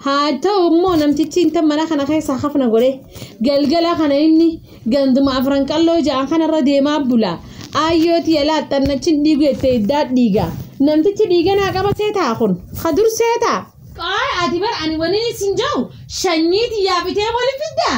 Haa ta'u immoo namtichi intal mana kana keessaa hafna godhe galgala kana inni ganduma afran qalloo ja'an kanarra deemaa bula. Aayyooti yalaa xannachin dhiigu jettee iddaa dhiiga. Namtichi dhiiga naa qaba seetaa kun ka dur seetaa. Qoy ati bar ani wani sin jau shanyii tiyyaa bitee wali fiddaa.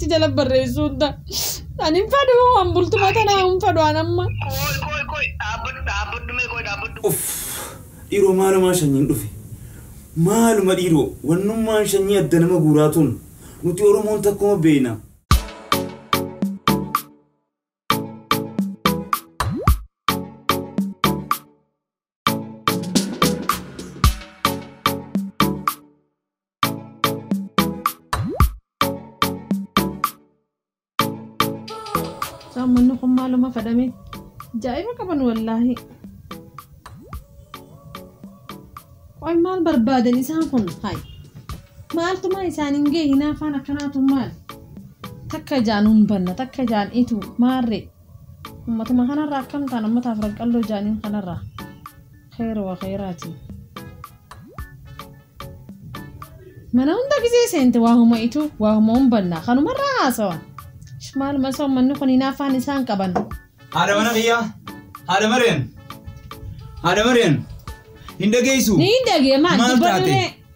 itti jala barreessuu hunda ani hin fedhu an bultuma tana hin fedhu an amma Koi koi koi dhaabbadhu dhaabbadhu mee koi dhaabbadhu. Uff dhiiroo maalumaa shanyiin dhufe maaluma dhiiroo wannummaan shanyii adda nama guuraa tun nuti oromoon takkuma beeyna. Saammanni kun maaluma fadhame? Jaa'iba qaban wallaahi. Qoy maal barbaadan isaan kun? Hayi. Maaltumaa isaaniin ga'e hinaafaan akkanaatu maal? Takka ijaan hin banna, takka ijaan itu maarree? Ummatuma kanarraa akkam taana ummata afran qalloo jaaniin kanarraa kheyra wa kheyraati. Mana hunda gizee seente waa huma itu waa huma humbanna kanumarraa haasawan. Ish maaluma isa ummanni kun hinaaffaan isaan qaban. Haadha mana kiyyaa haadha mareen haadha mareen hin dhageessu. Ni dhagee maal Maal dubbadhu taate? ree?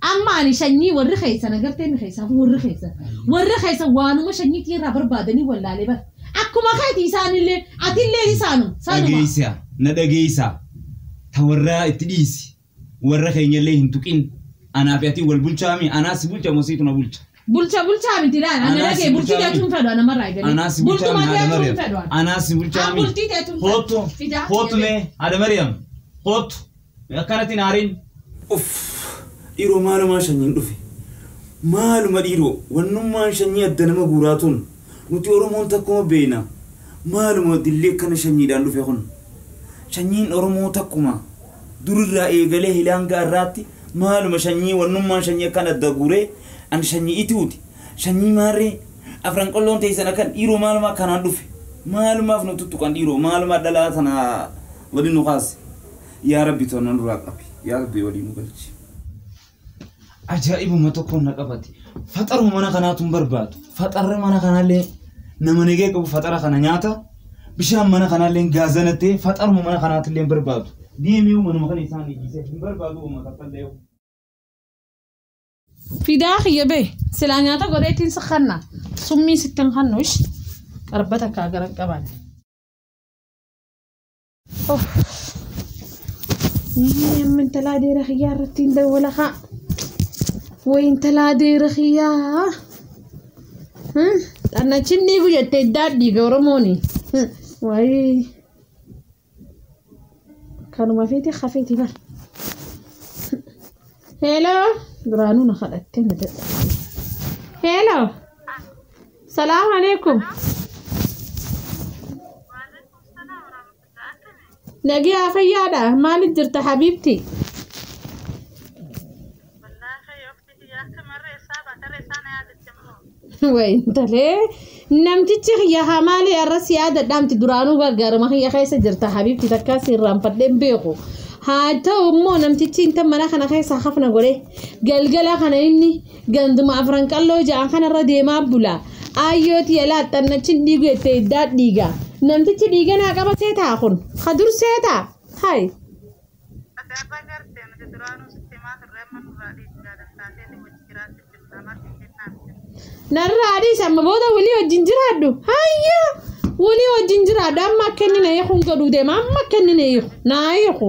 Amma ani shanyii warri keessan agartee inni keessaafuu warri keessan warri keessan waanuma shanyii tiirraa barbaadanii wallaalee bar akkuma keeti isaanillee atillee isaanuma sanuma. Dhageessa na dhageessa ta warraa itti dhiisi warra keenyallee hin tuqin anaa fi atii wal bulchaa mi anaa si bulcha moo siitu na bulcha Bulcha bulchaa miti laal ana Anaa dhagee si bultii bulchaa teechuun mi? fedhu ana marraa eegalee. anaa si bulchaa mi Bultuma haadha teechuun fedhu mariyaam ana. anaa si bulchaa An mi bultii teechuun fedhu. hoottu Fidaa hoottu fidaa. mee haadha mariyaam hoottu Me akkanati hin aarin. Uff dhiiroo maalumaa shanyiin dhufe maaluma dhiiroo wannummaan shanyii adda nama guuraa tun nuti oromoon takkuma beeyna maaluma dilli akkana shanyiidhaan dhufe kun shanyiin oromoo takkuma durirraa eegalee hilaanga arraatti maaluma shanyii wannummaan shanyii akkan adda guuree an shanyii itiuti shanyii maarree afran qolloon teeysan akkan dhiiroo maaluma akkanaan dhufe maalumaaf nu tuttuqan dhiiroo maaluma dhalaa tanaa Wali nu kaasi yaa rabbi too na nurraa qabi yaa rabbi walii nu galchi. Ajaa'ibuma tokkoon na qabate. Faxaruma mana kanaatu hin barbaadu. Faxarri mana kanaallee nama negee qabu faxara kana nyaata. Bishaan mana kanaallee gaazana ta'e faxaruma mana kanaatillee hin barbaadu. Deemee manuma kana isaan eegisee hin barbaadu uummata fallee yoo. Fidaa kiyya bee silaa nyaata godheetiin si kanna summii sittin kannuush qarbata kaa garan qaban. Amma intalaa deera kiyyaa irratti hin dawwala kaa. Way intalaa deera kiyyaa. Xannachin dhiigu jette iddaa dhiiga Oromooni. Waayii. Kanuma feete hafeeti bar. Heeloo. Duraanuu na kadhattee na dadha. Heeloo. Salaam alaikum. Nagaa fayyaadha maali jirta habiibti? Wayi intalee namtichi kiyya haa maali har'as yaada dhaamti duraanuu gargaarama kiyya keessa jirta habiibti takkaa si irraanfadhee hin beeku. Haa ta'u immoo namtichi inta mana kana keessa hafna godhe galgala kana inni Ganduma afran qalloo ja'an kanarra deemaa bula. Aayyoo tiya laaxxannachin dhiigu jettee iddaa dhiiga. Namtichi dhiiga naa qaba seetaa kun. Ka dur seetaa. Hay. Asaarraa garte nuti duraanuu sitti himaa turre amma nurraa dhiisi jaadan taateeti wajji jiraachu jirta maaf hin jennaan jedhe. Narraa dhiisi amma booda walii wajjin jiraadhu. Hayya. Walii wajjin jiraadhu amma akka inni na hiiku hin godhuu deema amma akka inni na hiiku. Naa hiiku.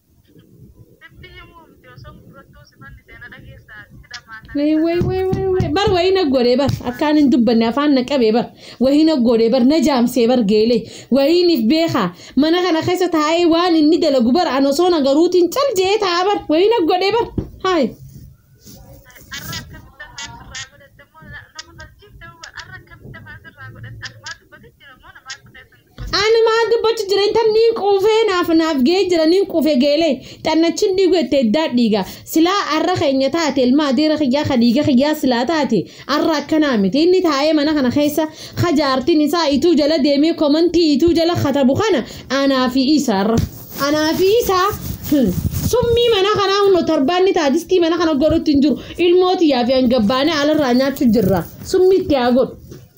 Wee wee wee wee wee bar wayii na godhee bar akkaan hin dubbanne afaan na qabee bar wayii na godhee bar na jaamsee bar geelee wayiiniif beekaa mana kana keessa taa'ee waan inni dalagu bar an osoo na garuutiin cal jee taa'a bar wayii na godhee bar haay. Ani maa dubbachu jira intan niin quufee naaf naaf ga'ee jira niin quufe geelee xannachin dhiigu itti eddaa dhiiga silaa arra keenya taate ilma adeera kiyyaa ka dhiiga kiyyaa silaa taate arra akkanaa miti inni taa'ee mana kana keessa ka jaartiin isaa ituu jala deemee komantii ituu jala katabu kana anaa fi isa arra anaa fi isa summii mana kanaa hunnoo tarbaanni taadistii mana kana godhutti hin jiru ilmoo tiyyaa fi hangabbaanee alarraa nyaachu jirra summii itti haa godhu.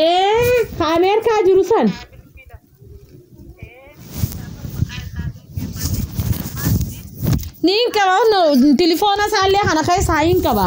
ee ka ameerikaa jiru san niin qaba no tilifoona isaallee kana keessaa hin qaba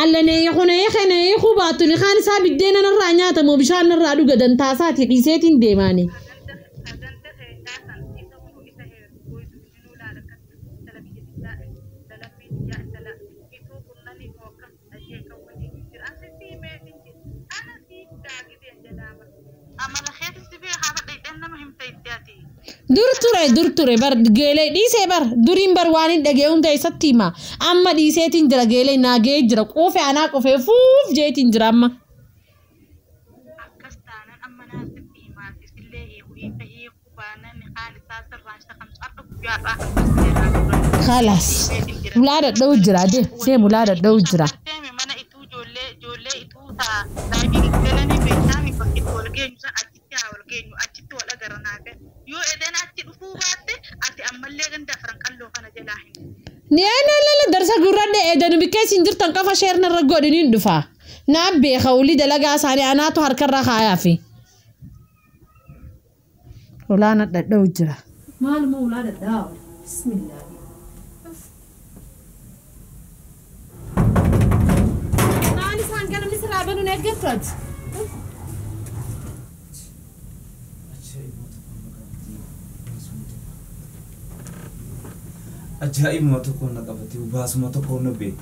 Allanee kunee kenee kubaatuni kaan isaa biddeena narraa nyaata moo bishaan narraa dhuga dantaa isaati dhiiseetiin deemaani. Amala keeti si beekaa bar dhayxeen nama himta itti ati. Dur ture dur ture bar geelee dhiisee bar duriin bar waan hin dhagee hunda isatti hima amma dhiiseetiin jira geelee naa ga'ee jira quufe anaa qufee fuuf jeetiin jira amma. Akkas taanan amma naaf sitti himaati sillee hiiku hiika hiiku. Kaalaas. Ulaa dhadha'u jira deem deem ulaa dhadha'u jira. Niyaanalala darsa gurradde eedanu bikkee isin jirtan qofa sheerna irra godhi niin dhufa. Naa beeka olii dalagaa isaanii anaatu harkarra kaayaa fi. Ulaa nadhadha'u jira. Maaluma ulaa dhadhaa bismillah. Kaan isaan gara misirraa banuun eeggattu ati. Ajaa'ibuma tokko na qabate baasuma tokko na bee.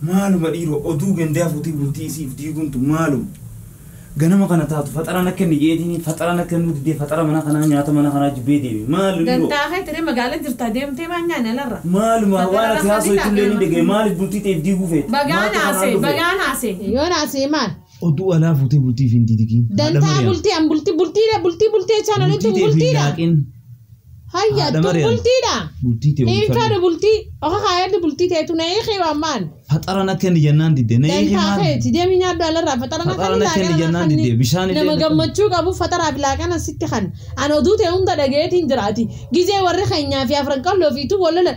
Maaluma dhiiroo oduu gandaa fuutii bultii isiif diiguuntu maaluma. Ganama kana taatu faxaraa na kenni jeetiini faxaraa na kennuu didee faxara mana kanaa nyaata mana kanaa jibbee deeme maal luliroo. Dantaa keetiree magaala jirtaa deemtee maa nyaani alarra. Maaluma waan ati haasoytu illee ni dhagaye maaliif bultii tee if diiguu feeta. Bagaa naasee bagaa naasee. Yoo naasee maal. Oduu alaa fuutee bultii fi hin didigiin. Dantaa bultii an bultii bultii bultii bultii jechaan olittu bultii dha. Hayya Haadha tun Maryam. bultiidha. Bultii tee Hiin faadha bultii. Oka kaayaddi bultii teetu na hiikii waan maan. Faxara na kenni jennaan didde. Na hiiki Dantaa maal? keeti deemii nyaadhu alarraa faxara na Faxara kenni na laaqana kenni na jennaan kenni. didde. Bishaan illee Nama na kenni. gammachuu qabu faxaraa fi laaqana sitti kan. An oduu tee hunda dhageetiin jira ati. Gizee warri keenyaa fi afran qalloo fi tu wal lolan.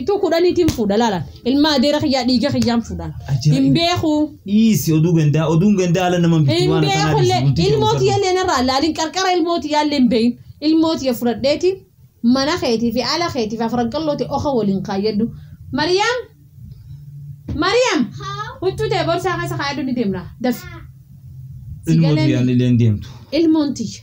Ituu kudhaniitiin fuudha laala. Ilma adeera kiyyaa dhiiga kiyyaan fuudha. Ajaa'iba. Hin beeku. Dhiisi oduu gandaa oduun gandaa ala nama bitti Hin waan akkanaa beeku dhiisi illee bultii kee ilmoo bulfadhu. tiyya illee narraa laalin qarqara ilmoo tiyyaa illee hin beeyin. Ilmoo tiyya fudhadheeti mana keetii fi ala keetii fi afran qallooti oka waliin kaayyadhu. Mariyaam! Mariyaam! Huccuu tee borsaa keessa kaayadhu ni deemna. Dafi. Si Ilmoo galee tiyyaan mi? illee hin deemtu. Ilmoon tiyya.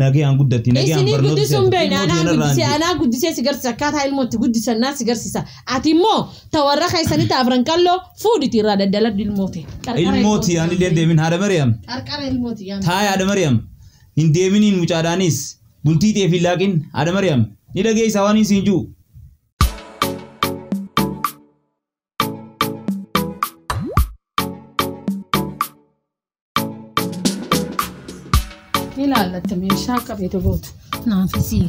Nagayaan guddatti, nagayaan Isinii barnoota guddisuu hin seente, beekne. ilmoo Anaa keenarraan guddisee, jee. anaa guddisee si garsiisa. Akkaataa ilmoo itti guddisan naa si garsiisa. Ati immoo ta warra keessanii ta afran qalloo fuudhiti irraa daddaladhu ilmoo tee. Qarqara Ilmoo ilmoo tee. tiyaan illee hin deemin haadha Mariyaam. Qarqara ilmoo tee yaa Taa haadha Mariyaam. Hin deeminiin mucaadhaanis. Bultii ta'eef hin laaqin haadha Mariyaam. Ni dhageessa waan hin siin jiru. ilaallatti meeshaa qabeetu gootu naafisii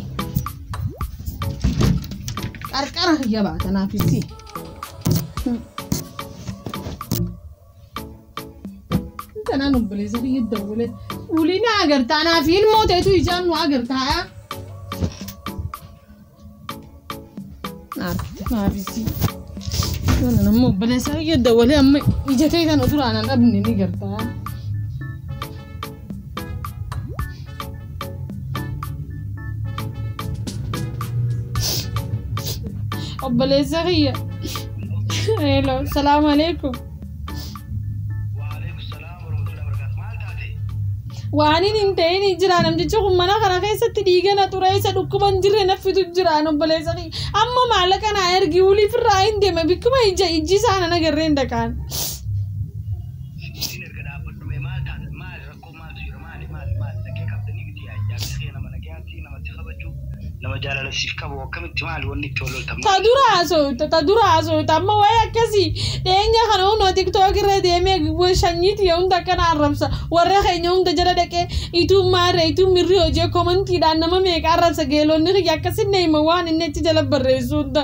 qarqara kiyya baata naafisii. Kanaan obboleessa kiyya dawwale ulina agartaa naafi ilmoo ta'etu ijaan nu agartaa. Naafisii. Kana namni obboleessaa kiyya dawalee amma ija kee kan ofirraa nan dhabne ni gartaa. Obboleessaa kiyya. Hello, salaamu alaikum. Waaniin hin ta'in jira namtichi kun mana kana keessatti dhiiga na xureessa dhukkuba hin jirre naffitu jira obboleessa kiyya. Amma maallaqa naa ergi waliif irraa hin deeme bikkuma ija ijji isaa nan agarreen dhaqaan. Maali maali maali nagaya qabda ni miti yaa jaarsi kee nama nagaya fi nama si kabaju nama jaalala siif qabu akkamitti maali wanni itti wal loltan Ta dura haasofta ta dura haasofta amma waa'ee akkasii dhiyeenya kana hunoo tiktok irra deemee wa- shanyii tiyya hunda akkana arrabsa warra keenya hunda jala dhaqee ituun maarree ituun mirri hojee komantiidhaan nama meeqa arrabsa geelonni kiyya akkasinna hima waan inni achi jala barreessu hunda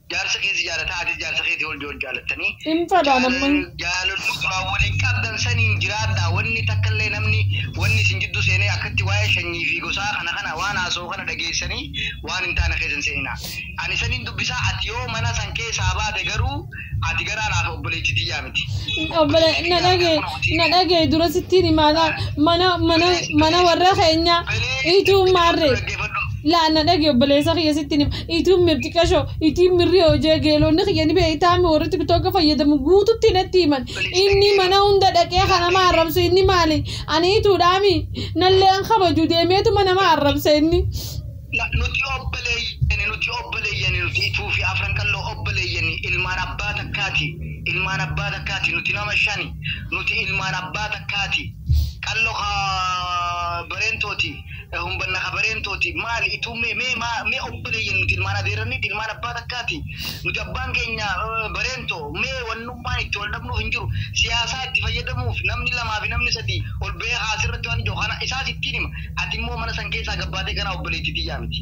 Jaarsa kee si jaalataa atis jaarsa keetii ol wal jaalattanii Hin fadhaan jaala amma. jaalaluu duraan waliin qabdan saniin jiraadhaa wanni takkallee namni wanni isin jidduu seenee akkatti waa'ee shanyii fi gosaa kana kana waan haasawu kana dhageessanii waan hin taane keessa hin seeninaa ani saniin dubbisaa ati yoo mana san keessaa baate garuu ati garaa naaf obboleetti tiyyaa miti Obbole obboleetti na kiyyaa dhagee miidhaa kunoo na tiibii dhagee dura sittiin himaadha mana mana bilees mana bilees warra keenya dhaggeeffadhu ituu maarree dhaggeeffadhu laa na dhagee obboleessa kiyya sittiin hima Ituu mir xiqasho itii mirri hojee geelonni kiyya ni beeytaami warri tiktoka fayyadamu guututti natti himan inni mana hunda dhaqee ka nama arrabsu inni maali ani ituudhaami nallee hin kabaju deemeetuma nama arrabsa inni. Na, nuti obboleeyyani nuti obboleeyyani nuti ituu fi afran qalloo obboleeyyani ilmaan abbaa takkaati ilmaan abbaa takkaati nuti nama shani nuti ilmaan abbaa takkaati qallo ka bareentooti. hunbanna habareen tooti maali ituu mee mee maa mee obboleeyyan nuti ilmaan adeerranniiti ilmaan abbaa takkaati nuti abbaan keenya eh, bareen too mee wannummaan itti wal dhabnuuf hin jiru siyaasaa itti fayyadamuuf namni lamaa fi namni sadii ol ba'ee haasirratti waan ijoo kana isaas ittiin hima ati immoo mana san keessaa gabbaatee ganaa obboleettii tiyyaa miti.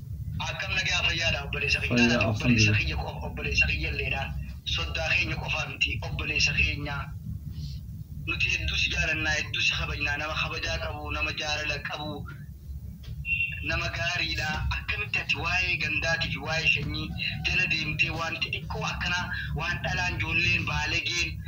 Akkam nagaa fayyaadha obboleessa kiyya Fayyaa, ati obboleessa alhamdulillah. kiyya qofa obboleessa kiyyalleedha soddaa keenya qofaa miti obboleessa keenya nuti hedduu si jaalannaa hedduu si kabajnaa nama kabajaa qabu nama jaalala qabu nama gaariidha akkamitti ati waa'ee gandaatii fi waa'ee sanyii jala deemtee waan xixiqqoo akkanaa waan dhalaan ijoolleen baalegeen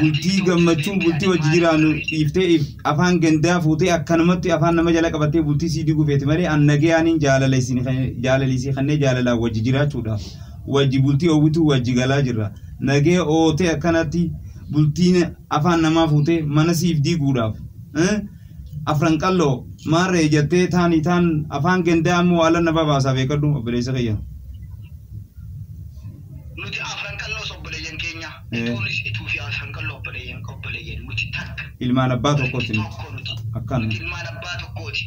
bultii gammachuu bultii wajji jiraannu dhiiftee if afaan gandaa fuutee akkanumatti afaan nama jala qabattee bultii sii diguu feeti malee an nagayaaniin jaalala isin kan- jaalalii sii kannee jaalalaan wajji jiraachuudhaaf wajji bultii oowwituu wajji galaa jirra nagee ootee akkanatti bultiin afaan namaa fuutee mana siif diiguudhaaf eh? afran qalloo maarree jettee taanii taan afaan gandaa ammoo waalan na babaasaa beekadhu obboleessa kiyya. Nuti afran qalloos obboleeyyan keenya. Itoonis ituu fi afran qalloo obboleeyyan obboleeyyan. Nuti takka. Ilmaan abbaa tokkooti nuti. Tokko nuti. Akkan. Nuti ilmaan abbaa tokkooti.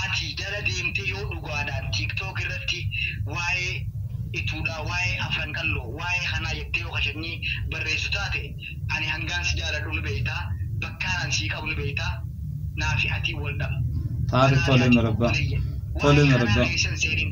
Ati jala deemtee yoo dhugaadhaan tiktok irratti waa'ee ituudhaa, waa'ee afran qalloo, waa'ee kanaa jettee yoo kashanyii barreessu taate ani hangaan si jaaladhu ni beektaa, bakkaan an sii qabu ni beektaa, naa fi atii wal dhaba. Taate tole marabbaa. Tole marabbaa. Waa'ee kanaa keessa hin seenin.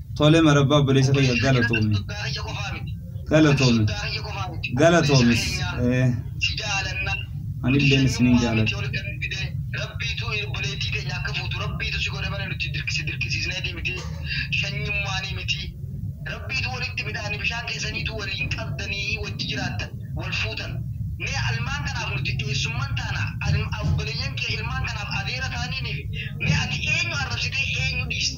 Tole marabbaa obboleessa kiyya galatoomi. Galatoomi. Galatoomis. Anilleen isinin jaaladha. Rabbiitu obboleettii teenya akka fuutu rabbiitu si godhe malee nuti si dirqisiisneetii miti shanyummaanii miti rabbiitu walitti midhaani bishaan keessaniitu waliin qabdanii wajji jiraattan wal fuutan mee almaan kanaaf nuti eessumman taana obboleeyyan kee ilmaan kanaaf adeera taaniiniif mee ati eenyu arrabsitee eenyu dhiiste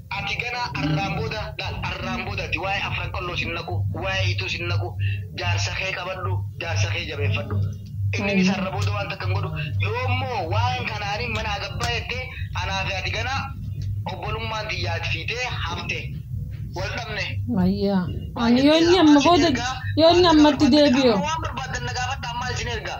Ati ganaa arraan booda laal arraan booda ati waa'ee afran qalloo sin naqu waa'ee ituu sin naqu jaarsa kee qabadhu jaarsa kee jabeeffadhu inninis Ayii. arra booda waan takka hin godhu yoo immoo waan kana ani mana agabbaa jettee anaa fi ati ganaa obbolummaan tiyya ati fi tee hafte wal dhabne Ayyaa. maal Ani yoo jettee inni amma ammaa sin booda ergaa yoo inni maal jettee amma itti barbaaddan deebi'u. amma waan barbaaddan na gaafadhaa maal sin ergaa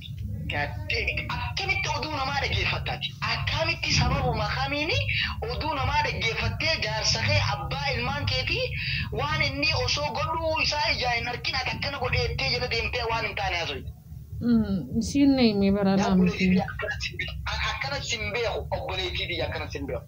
gaddeen akkamitti oduu namaa dhageeffatta ati akkaamitti sababuma kamiin oduu namaa dhaggeeffattee jaarsa kee abbaa ilmaan keetii waan innii osoo godhuu isaa ijaan hin arkin ati akkana godhee jettee jala deemtee waan hin taane haasoyta. Isiin nayme baranaa miti. Akkanatti sin beeku obboleettii tiyya akkanatti sin beeku.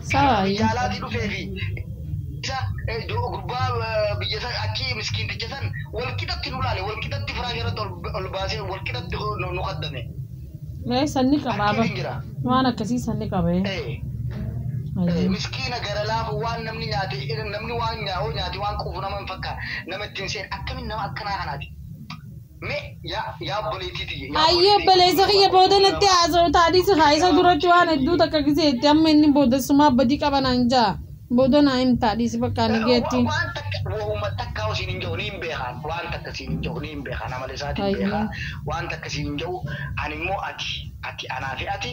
Sawa biyya ayuu. alaatii dhufee fi isa eh, do- gurbaa eh, biyya san achii miskiinticha san walqixatti nu laale walqixatti firaasha irratti ol, ol baasee walqixatti nu, nu kaddame Mee sanni qaba achiin aba. hin jira Waan akkasii sanni qaba ee. eh, eh, Ayuu. miskiina gara laafu waan namni nyaate eh, namni waan nyaa'oo nyaate waan quufu nama hin fakkaatu nama ittiin seen akkamiin nama akkanaa kanaati Mee yaa yaa obboleettii tiyya. yaa Ayyee obboleettii obboleessa kiyya tiyya, booda natti nama- haasa'u taadhii si haa isa duratti waan hedduu takka giseetti amma inni boodessumaa badii qaba naan ja'a booda naa him taadhii si bakka ani geetti. Wa- waan takka wahuma takka siin hin jedhu niin beekaan waan takka siin hin jedhu niin beekaan amala isaatiin Ayyee. beekaa waan takka siin hin jedhu ani immoo ati ati anaa fi ati